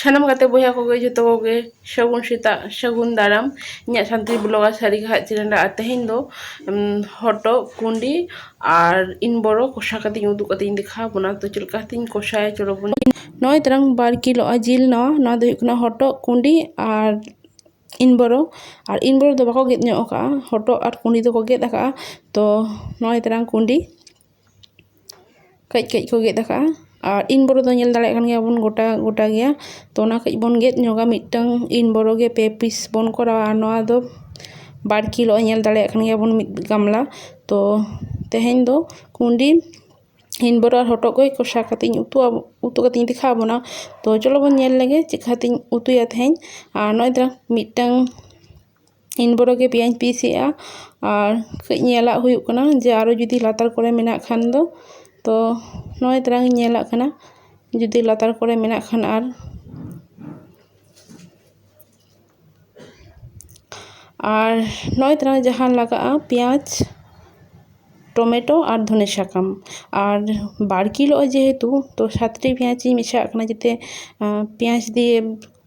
ᱥᱟᱱᱟᱢ ᱜᱟᱛᱮ ᱵᱚᱭᱦᱟ ᱠᱚᱜᱮ ᱡᱚᱛᱚ ᱠᱚᱜᱮ ᱥᱟᱹᱜᱩᱱ ᱥᱮᱛᱟᱜ ᱥᱟᱹᱜᱩᱱ ᱫᱟᱨᱟᱢ ᱤᱧᱟᱹᱜ ᱥᱟᱱᱛᱟᱲᱤ ᱵᱞᱚᱜᱟᱨ ᱥᱟᱹᱨᱤ ᱜᱟᱦᱟᱜ ᱪᱮᱱᱮᱞ ᱨᱮ ᱟᱨ ᱛᱮᱦᱮᱧ ᱫᱚ ᱦᱚᱴᱚᱜ ᱠᱩᱸᱰᱤ ᱟᱨ ᱤᱱ ᱵᱚᱨᱚ ᱠᱚᱥᱟ ᱠᱟᱛᱮ ᱤᱧ ᱩᱫᱩᱜ ᱠᱟᱛᱮ ᱤᱧ ᱫᱮᱠᱷᱟᱣ ᱵᱚᱱᱟ ᱛᱚ ᱪᱮᱫ ᱞᱮᱠᱟ ᱠᱟᱛᱮᱧ ᱠᱚᱥᱟᱭᱟ ᱪᱚᱞᱚ ᱵᱚᱱ ᱱᱚᱜᱼᱚᱭ ᱛᱟᱨᱟᱝ ᱵᱟᱨ ᱠᱤᱞᱳ ᱡᱤᱞ ᱱᱚᱣᱟ ᱱᱚᱣᱟ ᱫᱚ ᱦᱩᱭᱩᱜ ᱠᱟᱱᱟ ᱦᱚᱴᱚᱜ ᱠᱩᱸᱰᱤ ᱟᱨ ᱤᱱ ᱵᱚᱨᱚ ᱟᱨ ᱤᱱ ᱵᱚᱨᱚ ᱫᱚ ᱵᱟᱠᱚ ᱜᱮᱫ ᱧᱚᱜ ᱠᱟᱜᱼᱟ ᱦᱚᱴᱚᱜ ᱟᱨ ᱠᱩᱰᱤ ᱫᱚᱠᱚ ᱜᱮᱫ ᱠᱟᱜᱼᱟ ᱛᱚ ᱱᱚᱜᱼᱚᱸᱭ ᱛᱟᱨᱟᱝ ᱠᱩᱰᱤ ᱠᱟᱹᱡ ᱠᱟᱹᱡ ᱠᱚ ᱜᱮᱫ ᱠᱟᱜᱼᱟ ᱟᱨ ᱤᱱ ᱵᱚᱨᱚ ᱫᱚ ᱧᱮᱞ ᱫᱟᱲᱮᱭᱟᱜ ᱠᱟᱱ ᱜᱮᱭᱟ ᱵᱚᱱ ᱜᱚᱴᱟ ᱜᱚᱴᱟ ᱜᱮᱭᱟ ᱛᱚ ᱚᱱᱟ ᱠᱟᱹᱡ ᱵᱚᱱ ᱜᱮᱫ ᱧᱚᱜᱟ ᱢᱤᱫᱴᱟᱹᱝ ᱤᱱ ᱵᱚᱨᱚ ᱜᱮ ᱯᱮ ᱯᱤᱥ ᱵᱚᱱ ᱠᱚᱨᱟᱣᱟ ᱟᱨ ᱱᱚᱣᱟ ᱫᱚ ᱵᱟᱨ ᱠᱤᱞᱳ ᱧᱮᱞ ᱫᱟᱲᱮᱭᱟᱜ ᱠᱟᱱ ᱜᱮᱭᱟ ᱵᱚᱱ ᱢᱤᱫ ᱜᱟᱢᱞᱟ ᱛᱚ ᱛᱮᱦᱮᱧ ᱫᱚ ᱠᱩᱰᱤ ᱤᱧ ᱵᱚᱨᱚᱝ ᱦᱚᱴᱚᱜ ᱜᱚᱡ ᱠᱚᱥᱟ ᱠᱟᱛᱮᱫ ᱤᱧ ᱩᱛᱩ ᱟᱵᱚᱱ ᱩᱛᱩ ᱠᱟᱛᱮᱫ ᱤᱧ ᱫᱮᱠᱷᱟᱣ ᱟᱵᱚᱱᱟ ᱛᱚ ᱪᱚᱞᱚ ᱵᱚᱱ ᱧᱮᱞ ᱞᱮᱜᱮ ᱪᱮᱫ ᱠᱟ ᱠᱟᱛᱮᱧ ᱩᱛᱩᱭᱟ ᱛᱮᱦᱮᱧ ᱟᱨ ᱱᱚᱜᱼᱚᱭ ᱛᱚᱨᱟᱝ ᱢᱤᱫᱴᱟᱝ ᱤᱧ ᱵᱚᱨᱚᱝ ᱜᱮ ᱯᱮᱸᱭᱟᱡᱤᱧ ᱯᱤᱥ ᱮᱫᱟ ᱟᱨ ᱠᱟᱹᱡ ᱧᱮᱞᱟᱜ ᱦᱩᱭᱩᱜ ᱠᱟᱱᱟ ᱡᱮ ᱟᱨᱚ ᱡᱩᱫᱤ ᱞᱟᱛᱟᱨ ᱠᱚᱨᱮ ᱢᱮᱱᱟᱜ ᱠᱷᱟᱱ ᱫᱚ ᱛᱚ ᱱᱚᱜᱼᱚᱭ ᱛᱚᱨᱟᱝ ᱤᱧ ᱧᱮᱞᱟᱜ ᱠᱟᱱᱟ ᱡᱩᱫᱤ ᱞᱟᱛᱟᱨ ᱠᱚᱨᱮ ᱢᱮᱱᱟᱜ ᱠᱷᱟᱱ ᱟᱨ ᱟᱨ ᱱᱚᱜᱼᱚᱭ ᱛᱚᱨᱟ ᱡᱟᱦᱟᱸ ᱞᱟᱜᱟᱜᱼᱟ ᱯᱮᱸᱭᱟᱡᱽ ᱴᱚᱢᱮᱴᱳ ᱟᱨ ᱫᱷᱚᱱᱮ ᱥᱟᱠᱟᱢ ᱟᱨ ᱵᱟᱨ ᱠᱤᱞᱳ ᱡᱮᱦᱮᱛᱩ ᱛᱚ ᱥᱟᱛᱴᱤ ᱯᱮᱸᱭᱟᱡᱤᱧ ᱢᱮᱥᱟᱣᱟᱜ ᱠᱟᱱᱟ ᱡᱟᱛᱮ ᱯᱮᱸᱭᱟᱡᱽ ᱫᱤᱭᱮ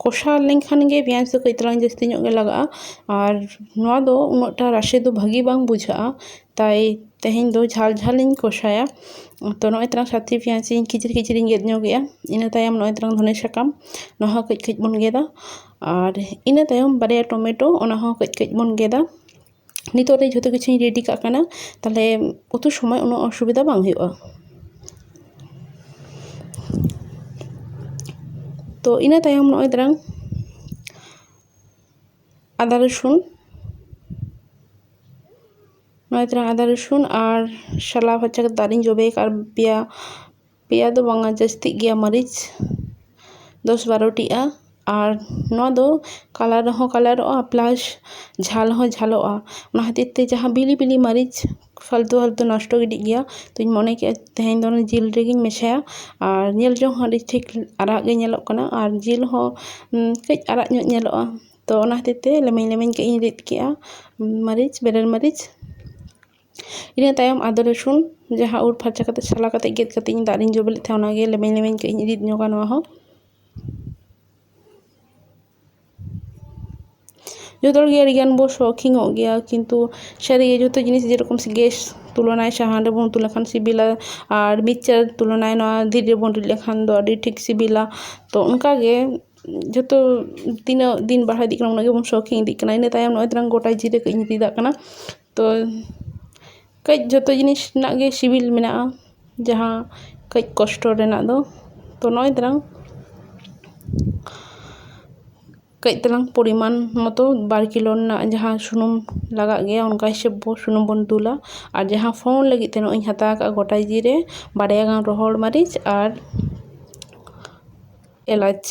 ᱠᱚᱥᱟᱣ ᱞᱮᱱᱠᱷᱟᱱ ᱜᱮ ᱯᱮᱸᱭᱟᱡᱽ ᱫᱚ ᱠᱟᱹᱡ ᱛᱟᱞᱟᱝ ᱡᱟᱹᱥᱛᱤ ᱧᱚᱜ ᱜᱮ ᱞᱟᱜᱟᱜᱼᱟ ᱟᱨ ᱱᱚᱣᱟ ᱫᱚ ᱩᱱᱟᱹᱜ ᱴᱟ ᱨᱟᱥᱮ ᱫᱚ ᱵᱷᱟᱹᱜᱤ ᱵᱟᱝ ᱵᱩᱡᱷᱟᱹᱜᱼᱟ ᱛᱟᱭ ᱛᱮᱦᱮᱧ ᱫᱚ ᱡᱷᱟᱞ ᱡᱷᱟᱞ ᱤᱧ ᱠᱚᱥᱟᱭᱟ ᱛᱚ ᱱᱚᱜᱼᱚᱭ ᱛᱚᱨᱟᱝ ᱥᱟᱛᱮ ᱯᱮᱸᱭᱟᱡᱽ ᱤᱧ ᱠᱷᱤᱪᱤᱨ ᱠᱷᱤᱪᱤᱨ ᱤᱧ ᱜᱮᱫ ᱧᱚᱜᱮᱜᱼᱟ ᱤᱱᱟᱹ ᱛᱟᱭᱚᱢ ᱱᱚᱜᱼᱚᱭ ᱛᱚᱨᱟᱝ ᱫᱷᱚᱱᱮ ᱥᱟᱠᱟᱢ ᱱᱚᱣᱟ ᱦᱚᱸ ᱠᱟᱹᱡ ᱠᱟᱹᱡ ᱵᱚᱱ ᱜᱮᱫᱟ ᱟᱨ ᱤᱱᱟᱹ ᱛᱟᱭᱚᱢ ᱵᱟᱨᱭᱟ ᱴᱚᱢᱮᱴᱳ ᱚᱱᱟ ᱦᱚᱸ ᱠᱟᱹᱡ ᱠᱟᱹᱡ ᱵᱚᱱ ᱜᱮᱫᱟ ᱱᱤᱛᱚᱜ ᱨᱮ ᱡᱷᱚᱛᱚ ᱠᱤᱪᱷᱩᱧ ᱨᱮᱰᱤ ᱠᱟᱜ ᱠᱟᱱᱟ ᱛᱟᱦᱚᱞᱮ ᱩᱛᱩ ᱥᱚᱢᱚᱭ ᱩᱱᱟᱹᱜ ᱚᱥᱩᱵᱤᱫᱷᱟ ᱵᱟᱝ ᱦᱩᱭᱩᱜᱼᱟ ᱛᱚ ᱤᱱᱟᱹ ᱛᱟᱭᱚᱢ ᱱᱚᱜᱼᱚᱭ ᱛᱚᱨᱟᱝ ᱟᱫᱟ ᱨᱚᱥᱩᱱ ᱱᱚᱜᱼᱚᱭ ᱛᱚᱨᱟᱝ ᱟᱫᱟ ᱨᱚᱥᱩᱱ ᱟᱨ ᱥᱟᱞᱟ ᱯᱷᱟᱨᱪᱟ ᱠᱟᱛᱮ ᱫᱟᱜ ᱨᱤᱧ ᱡᱚᱵᱮ ᱠᱟᱜᱼᱟ ᱟᱨ ᱯᱮᱸᱭᱟ ᱯᱮᱸᱭᱟ ᱫᱚ ᱵᱟᱝᱟ ᱡᱟᱹᱥᱛᱤᱜ ᱜᱮᱭᱟ ᱢᱟᱹᱨᱤᱪ ᱫᱚᱥ ᱵᱟᱨᱚᱴᱤᱜᱼᱟ ᱟᱨ ᱱᱚᱣᱟ ᱫᱚ ᱠᱟᱞᱟᱨ ᱦᱚᱸ ᱠᱟᱞᱟᱨᱚᱜᱼᱟ ᱯᱞᱟᱥ ᱡᱷᱟᱞ ᱦᱚᱸ ᱡᱷᱟᱞᱚᱜᱼᱟ ᱚᱱᱟ ᱠᱷᱟᱹᱛᱤᱨ ᱛᱮ ᱡᱟᱦᱟᱸ ᱵᱤᱞᱤ ᱵᱤᱞᱤ ᱢᱟᱹᱨᱤᱪ ᱯᱷᱟᱞᱛᱩ ᱯᱷᱟᱞᱛᱩ ᱱᱚᱥᱴᱚ ᱜᱤᱰᱤᱜ ᱜᱮᱭᱟ ᱛᱚᱧ ᱢᱚᱱᱮ ᱠᱮᱫᱼᱟ ᱛᱮᱦᱮᱧ ᱫᱚ ᱡᱤᱞ ᱨᱮᱜᱮᱧ ᱢᱮᱥᱟᱭᱟ ᱟᱨ ᱧᱮᱞ ᱡᱚᱝ ᱦᱚᱸ ᱟᱹᱰᱤ ᱴᱷᱤᱠ ᱟᱨᱟᱜ ᱜᱮ ᱧᱮᱞᱚᱜ ᱠᱟᱱᱟ ᱟᱨ ᱡᱤᱞ ᱦᱚᱸ ᱠᱟᱹᱡ ᱟᱨᱟᱜ ᱧᱚᱜ ᱧᱮᱞᱚᱜᱼᱟ ᱛᱚ ᱚᱱᱟ ᱠᱷᱟᱹᱛᱤᱨ ᱛᱮ ᱞᱮᱢᱮᱧ ᱞᱮᱢᱮᱧ ᱠᱟᱹᱡ ᱤᱧ ᱨᱤᱫ ᱠᱮᱫᱼᱟ ᱢᱟᱹᱨᱤᱪ ᱵᱮᱨᱮᱞ ᱢᱟᱹᱨᱤᱪ ᱤᱱᱟᱹ ᱛᱟᱭᱚᱢ ᱟᱫᱟ ᱨᱟᱹᱥᱩᱱ ᱡᱟᱦᱟᱸ ᱟᱹᱨᱩᱵ ᱯᱷᱟᱨᱪᱟ ᱠᱟᱛᱮᱫ ᱥᱟᱞᱟ ᱠᱟᱛᱮᱫ ᱜᱮᱫ ᱠᱟᱛᱮᱫ ᱤᱧ ᱫᱟᱜ ᱨᱤᱧ ᱡᱚᱵᱮ ᱞᱮᱫ ᱛᱟᱦᱮᱸᱫ ᱚᱱᱟᱜᱮ ᱞᱮᱢᱮᱧ ᱞᱮᱢᱮᱧ ᱠᱟᱹᱡ ᱤᱧ ᱨᱤᱫ ᱧᱚᱜᱟ ᱱᱚᱣᱟ ᱦᱚᱸ ᱡᱚᱛᱚ ᱦᱚᱲᱜᱮ ᱟᱹᱰᱤᱜᱟᱱ ᱵᱚᱱ ᱥᱚᱠᱷᱤᱱ ᱧᱚᱜ ᱜᱮᱭᱟ ᱠᱤᱱᱛᱩ ᱥᱟᱹᱨᱤᱜᱮ ᱡᱚᱛᱚ ᱡᱤᱱᱤᱥ ᱡᱮᱨᱚᱠᱚᱢ ᱜᱮᱥ ᱛᱩᱞᱚᱱᱟ ᱥᱟᱦᱟᱱ ᱨᱮᱵᱚᱱ ᱩᱛᱩ ᱞᱮᱠᱷᱟᱱ ᱥᱤᱵᱤᱞᱟ ᱟᱨ ᱢᱤᱠᱥᱪᱟᱨ ᱛᱩᱞᱚᱱᱟ ᱱᱚᱣᱟ ᱫᱷᱤᱨᱤ ᱨᱮᱵᱚᱱ ᱨᱤᱫ ᱞᱮᱠᱷᱟᱱ ᱫᱚ ᱟᱹᱰᱤ ᱴᱷᱤᱠ ᱥᱤᱵᱤᱞᱟ ᱛᱚ ᱚᱱᱠᱟᱜᱮ ᱡᱚᱛᱚ ᱛᱤᱱᱟᱹᱜ ᱫᱤᱱ ᱵᱟᱲᱦᱟᱣ ᱤᱫᱤᱜ ᱠᱟᱱᱟ ᱩᱱᱟᱹᱜ ᱜᱮᱵᱚᱱ ᱥᱚᱠᱷᱤᱱ ᱤᱫᱤᱜ ᱠᱟᱱᱟ ᱤᱱᱟᱹ ᱛᱟᱭᱚᱢ ᱱᱚᱜᱼᱚᱭ ᱛᱚᱨᱟᱝ ᱜᱳᱴᱟ ᱡᱤᱞ ᱠᱟᱹᱡ ᱤᱧ ᱨᱤᱫᱟᱜ ᱠᱟᱱᱟ ᱛᱚ ᱠᱟᱹᱡ ᱡᱚᱛᱚ ᱡᱤᱱᱤᱥ ᱨᱮᱱᱟᱜ ᱜᱮ ᱥᱤᱵᱤᱞ ᱢᱮᱱᱟᱜᱼᱟ ᱡᱟᱦᱟᱸ ᱠᱟᱹᱡ ᱠᱚᱥᱴᱚ ᱨᱮᱱᱟᱜ ᱫᱚ ᱛᱚ ᱱᱚᱜᱼᱚᱭ ᱛᱚᱨᱟᱝ ᱠᱟᱹᱡ ᱛᱟᱞᱟᱝ ᱯᱚᱨᱤᱢᱟᱱ ᱢᱚᱛᱚ ᱵᱟᱨ ᱠᱤᱞᱳ ᱨᱮᱱᱟᱜ ᱡᱟᱦᱟᱸ ᱥᱩᱱᱩᱢ ᱞᱟᱜᱟᱜ ᱜᱮᱭᱟ ᱚᱱᱠᱟ ᱦᱤᱥᱟᱹᱵ ᱵᱚ ᱥᱩᱱᱩᱢ ᱵᱚᱱ ᱫᱩᱞᱟ ᱟᱨ ᱡᱟᱦᱟᱸ ᱯᱷᱳᱲ ᱞᱟᱹᱜᱤᱫ ᱛᱮ ᱱᱚᱜᱼᱚᱭ ᱤᱧ ᱦᱟᱛᱟᱣ ᱠᱟᱜᱼᱟ ᱜᱳᱴᱟ ᱡᱤᱨᱮ ᱵᱟᱨᱭᱟ ᱜᱟᱱ ᱨᱚᱦᱚᱲ ᱢᱟᱹᱨᱤᱪ ᱟᱨ ᱮᱞᱟᱪ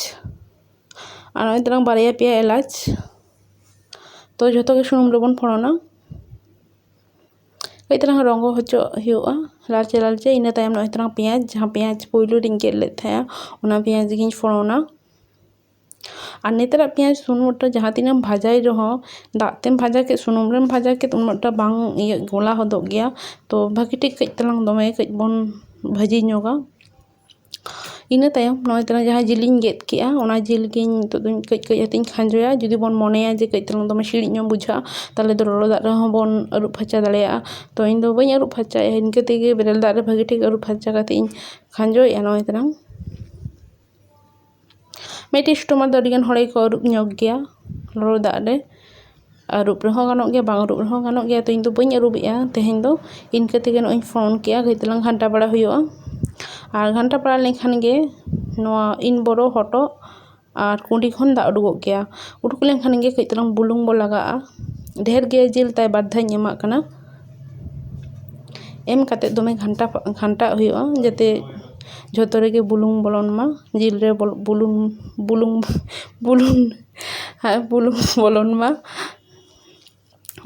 ᱟᱨ ᱱᱚᱜᱼᱚᱭ ᱛᱟᱞᱟᱝ ᱵᱟᱨᱭᱟ ᱯᱮᱭᱟ ᱮᱞᱟᱪ ᱛᱚ ᱡᱷᱚᱛᱚ ᱜᱮ ᱥᱩᱱᱩᱢ ᱨᱮᱵᱚᱱ ᱯᱷᱚᱲᱚᱱᱟ ᱠᱟᱹᱡ ᱛᱟᱞᱟᱝ ᱨᱚᱸᱜᱚ ᱦᱚᱪᱚᱣᱟᱜ ᱦᱩᱭᱩᱜᱼᱟ ᱞᱟᱞᱪᱮ ᱞᱟᱞᱪᱮ ᱤᱱᱟᱹ ᱛᱟᱭᱚᱢ ᱱᱚᱜᱼᱚᱭ ᱛᱟᱞᱟᱝ ᱯᱮᱸᱭᱟᱡᱽ ᱡᱟᱦᱟᱸ ᱯᱮᱸᱭᱟᱡᱽ ᱯᱳᱭᱞᱳ ᱨᱤᱧ ᱜᱮᱫ ᱞᱮᱫ ᱛᱟᱦᱮᱸᱜᱼᱟ ᱚᱱᱟ ᱯᱮᱸᱭᱟᱡᱽ ᱜᱤᱧ ᱯᱷᱚᱲᱚᱱᱟ ᱟᱨ ᱱᱮᱛᱟᱨᱟᱜ ᱯᱮᱸᱭᱟᱡᱽ ᱥᱩᱱᱩᱢ ᱨᱮ ᱡᱟᱦᱟᱸ ᱛᱤᱱᱟᱹᱜ ᱮᱢ ᱵᱷᱟᱡᱟᱭ ᱨᱮᱦᱚᱸ ᱫᱟᱜ ᱛᱮᱢ ᱵᱷᱟᱡᱟ ᱠᱮᱫ ᱥᱩᱱᱩᱢ ᱨᱮᱢ ᱵᱷᱟᱡᱟ ᱠᱮᱫ ᱩᱱᱟᱹᱜ ᱴᱟ ᱵᱟᱝ ᱤᱭᱟᱹᱜ ᱜᱚᱞᱟ ᱦᱚᱫᱚᱜ ᱜᱮᱭᱟ ᱛᱚ ᱵᱷᱟᱹᱜᱤ ᱴᱷᱤᱠ ᱠᱟᱹᱡ ᱛᱟᱞᱟᱝ ᱫᱚᱢᱮ ᱠᱟᱹᱡ ᱵᱚᱱ ᱵᱷᱟᱹᱡᱤ ᱧᱚᱜᱟ ᱤᱱᱟᱹ ᱛᱟᱭᱚᱢ ᱱᱚᱜᱼᱚᱭ ᱛᱚᱨᱟ ᱡᱟᱦᱟᱸ ᱡᱤᱞᱤᱧ ᱜᱮᱫ ᱠᱮᱫᱼᱟ ᱚᱱᱟ ᱡᱤᱞ ᱜᱮ ᱱᱤᱛᱳᱜ ᱫᱚ ᱠᱟᱹᱡ ᱠᱟᱹᱡ ᱠᱟᱛᱮᱧ ᱠᱷᱟᱸᱡᱚᱭᱟ ᱡᱩᱫᱤ ᱵᱚᱱ ᱢᱚᱱᱮᱭᱟ ᱡᱮ ᱠᱟᱹᱡ ᱪᱩᱞᱩᱝ ᱫᱚᱢᱮ ᱥᱤᱲᱤᱡ ᱧᱚᱜ ᱵᱩᱡᱷᱟᱹᱜᱼᱟ ᱛᱟᱦᱚᱞᱮ ᱫᱚ ᱞᱚᱞᱚ ᱫᱟᱜ ᱨᱮᱦᱚᱸ ᱵᱚᱱ ᱟᱹᱨᱩᱵ ᱯᱷᱟᱨᱪᱟ ᱫᱟᱲᱮᱭᱟᱜᱼᱟ ᱛᱚ ᱤᱧ ᱫᱚ ᱵᱟᱹᱧ ᱟᱹᱨᱩᱵ ᱯᱷᱟᱨᱪᱟᱭᱟ ᱤᱱᱠᱟᱹ ᱛᱮᱜᱮ ᱵᱮᱨᱮᱞ ᱫᱟᱜ ᱨᱮ ᱵᱷᱟᱹᱜᱤ ᱴᱷᱤᱠ ᱟᱹᱨᱩᱵ ᱯᱷᱟᱨᱪᱟ ᱠᱟᱛᱮᱧ ᱠᱷᱟᱸᱡᱚᱭᱮᱫᱼᱟ ᱱᱚᱜᱼᱚᱭ ᱛᱚᱨᱟᱝ ᱢᱤᱫᱴᱮᱱ ᱥᱴᱳᱵᱷ ᱨᱮᱫᱚ ᱟᱹᱰᱤᱜᱟᱱ ᱦᱚᱲ ᱜᱮᱠᱚ ᱟᱹᱨᱩᱵ ᱧᱚᱜᱽ ᱜᱮᱭᱟ ᱞᱚᱞᱚ ᱫᱟᱜ ᱨᱮ ᱟᱹᱨᱩᱵ ᱨᱮᱦᱚᱸ ᱜᱟᱱᱚᱜ ᱜᱮᱭᱟ ᱵᱟᱝ ᱟᱹᱨᱩᱵ ᱨᱮᱦᱚᱸ ᱜᱟᱱᱚᱜ ᱜᱮᱭᱟ ᱛᱚ ᱤᱧᱫᱚ ᱵᱟᱹᱧ ᱟᱹᱨᱩᱵᱮᱜᱼᱟ ᱛᱮᱦᱮᱧ ᱫᱚ ᱤᱱᱠᱟᱹ ᱛᱮᱜᱮ ᱱᱚᱜᱼᱚᱭ ᱤᱧ ᱯᱷᱳᱱ ᱠᱮᱫᱟ ᱠᱟᱹᱡ ᱛᱟᱞᱟᱝ ᱜᱷᱟᱱᱴᱟ ᱵᱟᱲᱟ ᱦᱩᱭᱩᱜᱼᱟ ᱟᱨ ᱜᱷᱟᱱᱴᱟ ᱵᱟᱲᱟ ᱞᱮᱱᱠᱷᱟᱱ ᱜᱮ ᱱᱚᱣᱟ ᱤᱱ ᱵᱚᱨᱚ ᱦᱚᱴᱚᱜ ᱟᱨ ᱠᱩᱰᱤ ᱠᱷᱚᱱ ᱫᱟᱜ ᱩᱰᱩᱠᱚᱜ ᱜᱮᱭᱟ ᱩᱰᱩᱠ ᱞᱮᱱᱠᱷᱟᱱ ᱜᱮ ᱠᱟᱹᱡ ᱛᱟᱞᱟᱝ ᱵᱩᱞᱩᱝ ᱵᱚᱱ ᱞᱟᱜᱟᱣᱟᱜᱼᱟ ᱰᱷᱮᱨ ᱜᱮ ᱡᱤᱞ ᱛᱟᱭ ᱵᱟᱨ ᱫᱷᱟᱣ ᱤᱧ ᱮᱢᱟᱜ ᱠᱟᱱᱟ ᱮᱢ ᱠᱟᱛᱮ ᱫᱚᱢᱮ ᱜᱷᱟᱱᱴᱟ ᱜᱷᱟᱱᱴᱟᱣᱟᱜ ᱦᱩᱭᱩᱜᱼᱟ ᱡᱟᱛᱮ ᱡᱷᱚᱛᱚ ᱨᱮᱜᱮ ᱵᱩᱞᱩᱝ ᱵᱚᱞᱚᱱ ᱢᱟ ᱡᱤᱞ ᱨᱮ ᱵᱩᱞᱩᱝ ᱵᱩᱞᱩᱝ ᱵᱩᱞᱩᱝ ᱟᱨ ᱵᱩᱞᱩᱝ ᱵᱚᱞᱚᱱ ᱢᱟ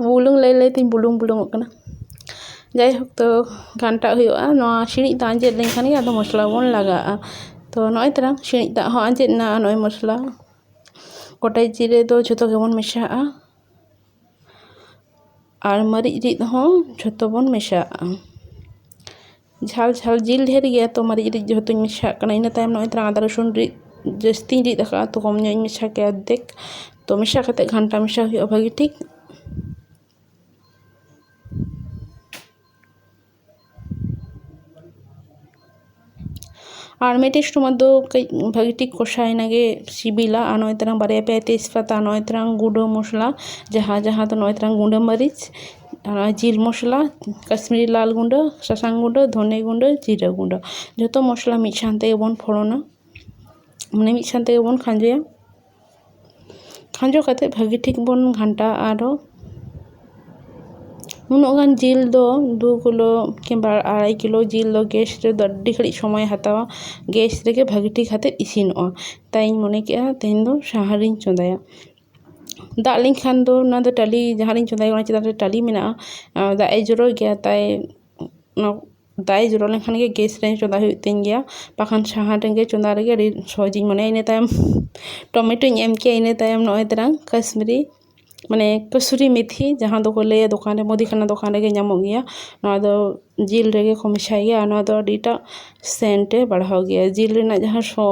ᱵᱩᱞᱩᱝ ᱞᱟᱹᱭ ᱞᱟᱹᱭ ᱛᱤᱧ ᱵᱩᱞᱩᱝ ᱵᱩᱞᱩᱝᱚᱜ ᱠᱟᱱᱟ ᱡᱟᱭᱦᱳᱠ ᱛᱚ ᱜᱷᱟᱱᱴᱟᱣᱟᱜ ᱦᱩᱭᱩᱜᱼᱟ ᱱᱚᱣᱟ ᱥᱤᱬᱤᱡ ᱫᱟᱜ ᱟᱸᱡᱮᱫ ᱞᱮᱱᱠᱷᱟᱱ ᱜᱮ ᱟᱫᱚ ᱢᱚᱥᱞᱟ ᱵᱚᱱ ᱞᱟᱜᱟᱣᱟᱜᱼᱟ ᱛᱚ ᱱᱚᱜᱼᱚᱭ ᱛᱚᱨᱟᱝ ᱥᱤᱬᱤᱡ ᱫᱟᱜ ᱦᱚᱸ ᱟᱸᱡᱮᱫ ᱮᱱᱟ ᱟᱨ ᱱᱚᱜᱼᱚᱭ ᱢᱚᱥᱞᱟ ᱜᱚᱴᱟ ᱡᱤᱨᱟᱹ ᱫᱚ ᱡᱷᱚᱛᱚ ᱜᱮᱵᱚᱱ ᱢᱮᱥᱟᱣᱟᱜᱼᱟ ᱟᱨ ᱢᱟᱨᱤᱪ ᱨᱤᱫ ᱦᱚᱸ ᱡᱷᱚᱛᱚ ᱵᱚᱱ ᱢᱮᱥᱟᱣᱟᱜᱼᱟ ᱡᱷᱟᱞ ᱡᱷᱟᱞ ᱡᱤᱞ ᱰᱷᱮᱨ ᱜᱮᱭᱟ ᱛᱚ ᱢᱟᱨᱤᱪ ᱨᱤᱫ ᱡᱮᱦᱮᱛᱩᱧ ᱢᱮᱥᱟᱣᱟᱜ ᱠᱟᱱᱟ ᱤᱱᱟᱹ ᱛᱟᱭᱚᱢ ᱱᱚᱜᱼᱚᱭ ᱛᱚᱨᱟ ᱟᱫᱟ ᱨᱚᱥᱩᱱ ᱨᱤᱫ ᱡᱟᱹᱥᱛᱤᱧ ᱨᱤᱫ ᱟᱠᱟᱫᱼᱟ ᱛᱚ ᱠᱚᱢ ᱧᱚᱜ ᱤᱧ ᱢᱮᱥᱟ ᱠᱮᱫᱟ ᱚᱨᱫᱷᱮᱠ ᱛᱚ ᱢᱮᱥᱟ ᱠᱟᱛᱮᱫ ᱜᱷᱟᱱᱴᱟ ᱢᱮᱥᱟ ᱦᱩᱭᱩᱜᱼᱟ ᱵᱷᱟᱹᱜᱤ ᱴᱷᱤᱠ ᱟᱨ ᱢᱤᱫᱴᱮᱱ ᱥᱚᱢᱚᱭ ᱫᱚ ᱠᱟᱹᱡ ᱵᱷᱟᱹᱜᱤ ᱴᱷᱤᱠ ᱠᱚᱥᱟᱣᱮᱱ ᱜᱮ ᱥᱤᱵᱤᱞᱟ ᱟᱨ ᱱᱚᱜᱼᱚᱭ ᱛᱟᱨᱟᱝ ᱵᱟᱨᱭᱟ ᱯᱮᱭᱟ ᱛᱮᱡᱽ ᱯᱟᱛᱟ ᱱᱚᱜᱼᱚᱭ ᱛᱟᱨᱟᱝ ᱜᱩᱰᱟᱹ ᱢᱚᱥᱞᱟ ᱡᱟᱦᱟᱸ ᱡᱟᱦᱟᱸ ᱫᱚ ᱱᱚᱜᱼᱚᱭ ᱛᱟᱨᱟᱝ ᱜᱩᱰᱟᱹ ᱢᱟᱹᱨᱤᱪ ᱟᱨ ᱡᱤᱞ ᱢᱚᱥᱞᱟ ᱠᱟᱹᱥᱢᱤᱨᱤ ᱞᱟᱞ ᱜᱩᱰᱟᱹ ᱥᱟᱥᱟᱝ ᱜᱩᱰᱟᱹ ᱫᱷᱚᱱᱮ ᱜᱩᱰᱟᱹ ᱡᱤᱨᱟᱹ ᱜᱩᱰᱟᱹ ᱡᱚᱛᱚ ᱢᱚᱥᱞᱟ ᱢᱤᱫ ᱥᱟᱶ ᱛᱮᱜᱮ ᱵᱚᱱ ᱯᱷᱚᱲᱚᱱᱟ ᱢᱟᱱᱮ ᱢᱤᱫ ᱥᱟᱶ ᱛᱮᱜᱮ ᱵᱚᱱ ᱠᱷᱟᱸᱡᱚᱭᱟ ᱠᱷᱟᱸᱡᱚ ᱠᱟᱛᱮ ᱵᱷᱟᱹᱜᱤ ᱴᱷᱤᱠ ᱵᱚᱱ ᱜᱷᱟᱱᱴᱟᱣᱟᱜᱼᱟ ᱟᱨᱚ ᱩᱱᱟᱹᱜ ᱜᱟᱱ ᱡᱤᱞ ᱫᱚ ᱫᱩ ᱠᱤᱞᱳ ᱠᱤᱢᱵᱟ ᱟᱲᱟᱭ ᱠᱤᱞᱳ ᱡᱤᱞ ᱫᱚ ᱜᱮᱥ ᱨᱮᱫᱚ ᱟᱹᱰᱤ ᱜᱷᱟᱹᱲᱤᱡ ᱥᱚᱢᱚᱭᱮ ᱦᱟᱛᱟᱣᱟ ᱜᱮᱥ ᱨᱮᱜᱮ ᱵᱷᱟᱹᱜᱤ ᱴᱷᱤᱠ ᱠᱟᱛᱮ ᱤᱥᱤᱱᱚᱜᱼᱟ ᱛᱟᱭᱤᱧ ᱢᱚᱱᱮ ᱠᱮᱫᱼᱟ ᱛᱮᱦᱮᱧ ᱫᱚ ᱥᱟᱦᱟ ᱨᱤᱧ ᱪᱚᱸᱫᱟᱭᱟ ᱫᱟᱜ ᱞᱮᱱᱠᱷᱟᱱ ᱫᱚ ᱚᱱᱟ ᱫᱚ ᱴᱟᱹᱞᱤ ᱡᱟᱦᱟᱸ ᱨᱤᱧ ᱪᱚᱸᱫᱟᱭᱟ ᱚᱱᱟ ᱪᱮᱛᱟᱱ ᱨᱮ ᱴᱟᱹᱞᱤ ᱢᱮᱱᱟᱜᱼᱟ ᱫᱟᱜ ᱮᱭ ᱡᱚᱨᱚᱭ ᱜᱮᱭᱟ ᱛᱟᱭ ᱫᱟᱜ ᱮ ᱡᱚᱨᱚ ᱞᱮᱱᱠᱷᱟᱱ ᱜᱮ ᱜᱮᱥ ᱨᱮ ᱪᱚᱸᱫᱟ ᱦᱩᱭᱩᱜ ᱛᱤᱧ ᱜᱮᱭᱟ ᱵᱟᱠᱷᱟᱱ ᱥᱟᱦᱟᱱ ᱨᱮᱜᱮ ᱪᱚᱸᱫᱟ ᱨᱮᱜᱮ ᱟᱹᱰᱤ ᱥᱚᱦᱚᱡᱤᱧ ᱢᱚᱱᱮᱭᱟ ᱤᱱᱟᱹ ᱛᱟᱭᱚᱢ ᱴᱚᱢᱮᱴᱳᱧ ᱮᱢ ᱠᱮᱫᱟ ᱤᱱᱟᱹ ᱛᱟᱭᱚᱢ ᱱᱚᱜᱼᱚᱭ ᱛᱟᱨᱟᱝ ᱠᱟᱹᱥᱢᱤᱨᱤ ᱢᱟᱱᱮ ᱠᱟᱹᱥᱩᱨᱤ ᱢᱤᱛᱷᱤ ᱡᱟᱦᱟᱸ ᱫᱚᱠᱚ ᱞᱟᱹᱭᱟ ᱫᱚᱠᱟᱱ ᱨᱮ ᱢᱩᱫᱤ ᱠᱷᱟᱱᱟ ᱫᱚᱠᱟᱱ ᱨᱮᱜᱮ ᱧᱟᱢᱚᱜ ᱜᱮᱭᱟ ᱱᱚᱣᱟ ᱫᱚ ᱡᱤᱞ ᱨᱮᱜᱮ ᱠᱚ ᱢᱮᱥᱟᱭ ᱜᱮᱭᱟ ᱟᱨ ᱱᱚᱣᱟ ᱫᱚ ᱟᱹᱰᱤᱴᱟᱜ ᱥᱮᱱᱴ ᱮ ᱵᱟᱲᱦᱟᱣ ᱜᱮᱭᱟ ᱡᱤᱞ ᱨᱮᱱᱟᱜ ᱡᱟᱦᱟᱸ ᱥᱚ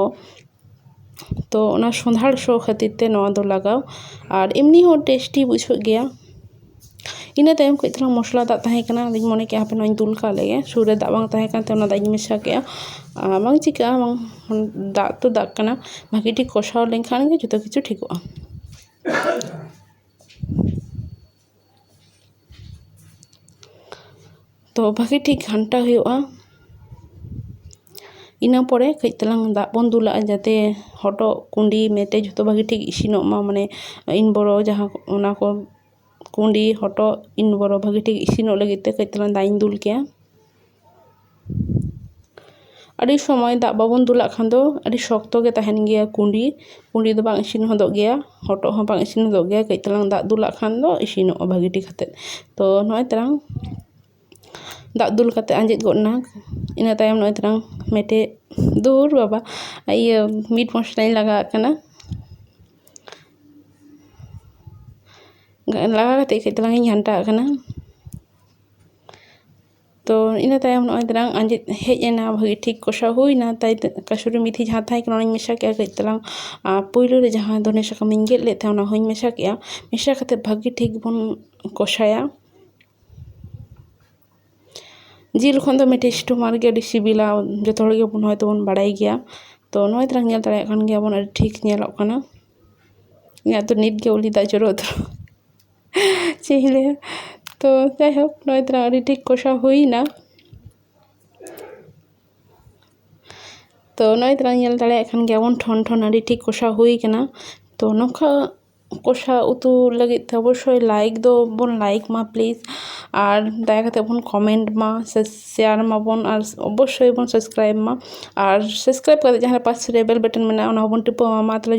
ᱛᱚ ᱚᱱᱟ ᱥᱚᱸᱫᱷᱟᱲ ᱥᱚ ᱠᱷᱟᱹᱛᱤᱨ ᱛᱮ ᱱᱚᱣᱟ ᱫᱚ ᱞᱟᱜᱟᱣ ᱟᱨ ᱮᱢᱱᱤ ᱦᱚᱸ ᱴᱮᱥᱴᱤ ᱵᱩᱡᱷᱟᱹᱜ ᱜᱮᱭᱟ ᱤᱱᱟᱹ ᱛᱟᱭᱚᱢ ᱠᱟᱹᱡ ᱛᱟᱞᱟᱝ ᱢᱚᱥᱞᱟ ᱫᱟᱜ ᱛᱟᱦᱮᱸ ᱠᱟᱱᱟ ᱟᱫᱚᱧ ᱢᱚᱱᱮ ᱠᱮᱫᱟ ᱦᱟᱯᱮ ᱱᱚᱣᱟᱧ ᱫᱩᱞ ᱠᱟᱜ ᱞᱮᱜᱮ ᱥᱩᱨ ᱨᱮ ᱫᱟᱜ ᱵᱟᱝ ᱛᱟᱦᱮᱸ ᱠᱟᱱᱛᱮ ᱚᱱᱟ ᱫᱟᱜ ᱤᱧ ᱢᱮᱥᱟ ᱠᱮᱫᱟ ᱟᱨ ᱵᱟᱝ ᱪᱤᱠᱟᱹᱜᱼᱟ ᱵᱟᱝ ᱫᱟᱜ ᱛᱚ ᱫᱟᱜ ᱠᱟᱱᱟ ᱵᱷᱟᱹᱜᱤ ᱴᱷᱤᱠ ᱠᱚᱥᱟᱣ ᱞᱮᱱᱠᱷᱟᱱ ᱜᱮ ᱡᱚᱛᱚ ᱠᱤᱪᱷᱩ ᱴᱷᱤᱠᱚᱜᱼᱟ ᱛᱚ ᱵᱷᱟᱜᱮ ᱴᱷᱤᱠ ᱜᱷᱟᱱᱴᱟ ᱦᱩᱭᱩᱜᱼᱟ ᱤᱱᱟᱹ ᱯᱚᱨᱮ ᱠᱟᱹᱡ ᱛᱟᱞᱟᱝ ᱫᱟᱜ ᱵᱚᱱ ᱫᱩᱞᱟᱜᱼᱟ ᱡᱟᱛᱮ ᱦᱚᱴᱚᱜ ᱠᱩᱰᱤ ᱢᱮᱴᱮᱡ ᱡᱷᱚᱛᱚ ᱵᱷᱟᱜᱮ ᱴᱷᱤᱠ ᱤᱥᱤᱱᱚᱜ ᱢᱟ ᱢᱟᱱᱮ ᱤᱱ ᱵᱚᱨᱚ ᱡᱟᱦᱟᱸ ᱚᱱᱟ ᱠᱚ ᱠᱩᱰᱤ ᱦᱚᱴᱚᱜ ᱤᱱ ᱵᱚᱨᱚ ᱵᱷᱟᱜᱮ ᱴᱷᱤᱠ ᱤᱥᱤᱱᱚᱜ ᱞᱟᱹᱜᱤᱫ ᱛᱮ ᱠᱟᱹᱡ ᱛᱟᱞᱟᱝ ᱫᱟᱜ ᱤᱧ ᱫᱩᱞ ᱠᱮᱭᱟ ᱟᱹᱰᱤ ᱥᱚᱢᱚᱭ ᱫᱟᱜ ᱵᱟᱵᱚᱱ ᱫᱩᱞᱟᱜ ᱠᱷᱟᱱ ᱫᱚ ᱟᱹᱰᱤ ᱥᱚᱠᱛᱚ ᱜᱮ ᱛᱟᱦᱮᱱ ᱜᱮᱭᱟ ᱠᱩᱸᱰᱤ ᱠᱩᱸᱰᱤ ᱫᱚ ᱵᱟᱝ ᱤᱥᱤᱱ ᱦᱚᱫᱚᱜ ᱜᱮᱭᱟ ᱦᱚᱴᱚᱜ ᱦᱚᱸ ᱵᱟᱝ ᱤᱥᱤᱱ ᱦᱚᱫᱚᱜ ᱜᱮᱭᱟ ᱠᱟᱹᱡ ᱛᱟᱞᱟᱝ ᱫᱟᱜ ᱫᱩᱞᱟᱜ ᱠᱷᱟᱱ ᱫᱚ ᱤᱥᱤᱱᱚᱜᱼᱟ ᱵᱷᱟᱹᱜᱤ ᱴᱷᱤᱠ ᱠᱟᱛᱮ ᱛᱚ ᱱᱚᱜᱼᱚᱭ ᱛᱟᱞᱟᱝ ᱫᱟᱜ ᱫᱩᱞ ᱠᱟᱛᱮ ᱟᱸᱡᱮᱫ ᱜᱚᱫ ᱮᱱᱟ ᱤᱱᱟᱹ ᱛᱟᱭᱚᱢ ᱱᱚᱜᱼᱚᱭ ᱛᱟᱞᱟᱝ ᱢᱮᱴᱮᱡ ᱫᱷᱩᱨ ᱵᱟᱵᱟ ᱤᱭᱟᱹ ᱢᱤᱴ ᱢᱚᱥᱞᱟᱧ ᱞᱟᱜᱟᱣᱟᱜ ᱠᱟᱱᱟ ᱞᱟᱜᱟᱣ ᱠᱟᱛᱮ ᱠᱟᱹᱡ ᱛᱟᱞᱟᱝ ᱤᱧ ᱜᱷᱟᱱᱴᱟᱣᱟᱜ ᱠᱟᱱᱟ ᱛᱚ ᱤᱱᱟᱹ ᱛᱟᱭᱚᱢ ᱱᱚᱜᱼᱚᱭ ᱛᱟᱨᱟᱝ ᱟᱸᱡᱮᱫ ᱦᱮᱡ ᱮᱱᱟ ᱵᱷᱟᱹᱜᱤ ᱴᱷᱤᱠ ᱠᱚᱥᱟᱣ ᱦᱩᱭᱱᱟ ᱛᱟᱭ ᱠᱟᱹᱥᱩᱨᱤ ᱢᱮᱛᱷᱤ ᱡᱟᱦᱟᱸ ᱛᱟᱦᱮᱸ ᱠᱟᱱᱟ ᱚᱱᱟᱧ ᱢᱮᱥᱟ ᱠᱮᱫᱟ ᱠᱟᱹᱡ ᱛᱟᱞᱟᱝ ᱟᱨ ᱯᱳᱭᱞᱳ ᱨᱮ ᱡᱟᱦᱟᱸ ᱫᱷᱚᱱᱮ ᱥᱟᱠᱟᱢᱤᱧ ᱜᱮᱫ ᱞᱮᱫ ᱛᱟᱦᱮᱸᱫ ᱚᱱᱟ ᱦᱚᱸᱧ ᱢᱮᱥᱟ ᱠᱮᱫᱟ ᱢᱮᱥᱟ ᱠᱟᱛᱮ ᱵᱷᱟᱹᱜᱤ ᱴᱷᱤᱠ ᱵᱚᱱ ᱠᱚᱥᱟᱭᱟ ᱡᱤᱞ ᱠᱷᱚᱱ ᱫᱚ ᱢᱤᱫᱴᱮᱡ ᱥᱴᱳᱢᱟᱨ ᱜᱮ ᱟᱹᱰᱤ ᱥᱤᱵᱤᱞᱟ ᱡᱚᱛᱚ ᱦᱚᱲ ᱜᱮᱵᱚᱱ ᱦᱚᱭᱛᱳ ᱵᱚᱱ ᱵᱟᱲᱟᱭ ᱜᱮᱭᱟ ᱛᱚ ᱱᱚᱜᱼᱚᱭ ᱛᱟᱞᱟᱝ ᱧᱮᱞ ᱫᱟᱲᱮᱭᱟᱜ ᱠᱟᱱ ᱜᱮᱭᱟᱵᱚᱱ ᱟᱹᱰᱤ ᱴᱷᱤᱠ ᱧᱮᱞᱚᱜ ᱠᱟᱱᱟ ᱤᱧᱟᱹᱜ ᱫᱚ ᱱᱤᱛᱜᱮ ᱩᱞᱤ ᱫᱟᱜ ᱡᱚᱨᱚᱜ ᱠᱟᱱᱟ ᱪᱮᱫ ᱤᱧ ᱞᱟᱹᱭᱟ ᱛᱚ ᱡᱟᱭᱦᱳᱠ ᱱᱚᱜᱼᱚᱭ ᱛᱚᱨᱟ ᱟᱹᱰᱤ ᱴᱷᱤᱠ ᱠᱚᱥᱟᱣ ᱦᱩᱭᱮᱱᱟ ᱛᱚ ᱱᱚᱜᱼᱚᱭ ᱛᱚᱨᱟ ᱧᱮᱞ ᱫᱟᱲᱮᱭᱟᱜ ᱠᱟᱱ ᱜᱮᱭᱟᱵᱚᱱ ᱴᱷᱚᱱ ᱴᱷᱚᱱ ᱟᱹᱰᱤ ᱴᱷᱤᱠ ᱠᱚᱥᱟᱣ ᱦᱩᱭ ᱠᱟᱱᱟ ᱛᱚ ᱱᱚᱝᱠᱟ ᱠᱚᱥᱟᱣ ᱩᱛᱩ ᱞᱟᱹᱜᱤᱫ ᱛᱮ ᱚᱵᱚᱥᱥᱳᱭ ᱞᱟᱭᱤᱠ ᱫᱚᱵᱚᱱ ᱞᱟᱭᱤᱠ ᱢᱟ ᱯᱞᱤᱡᱽ ᱟᱨ ᱫᱟᱭᱟ ᱠᱟᱛᱮ ᱵᱚᱱ ᱠᱚᱢᱮᱱᱴ ᱢᱟ ᱥᱮ ᱥᱮᱭᱟᱨ ᱢᱟᱵᱚᱱ ᱟᱨ ᱚᱵᱚᱥᱥᱳᱭ ᱵᱚᱱ ᱥᱟᱵᱥᱠᱨᱟᱭᱤᱵᱽ ᱢᱟ ᱟᱨ ᱥᱟᱵᱥᱠᱨᱟᱭᱤᱵᱽ ᱠᱟᱛᱮ ᱡᱟᱦᱟᱸᱨᱮ ᱯᱟᱥᱮ ᱨᱮ ᱵᱮᱞ ᱵᱟᱴᱚᱱ ᱢᱮᱱᱟᱜᱼᱟ ᱚᱱᱟ ᱦᱚᱸᱵᱚᱱ ᱴᱤᱯᱟᱹᱣ ᱟᱜ ᱢᱟ ᱢᱟ ᱛᱟᱦᱚᱞᱮ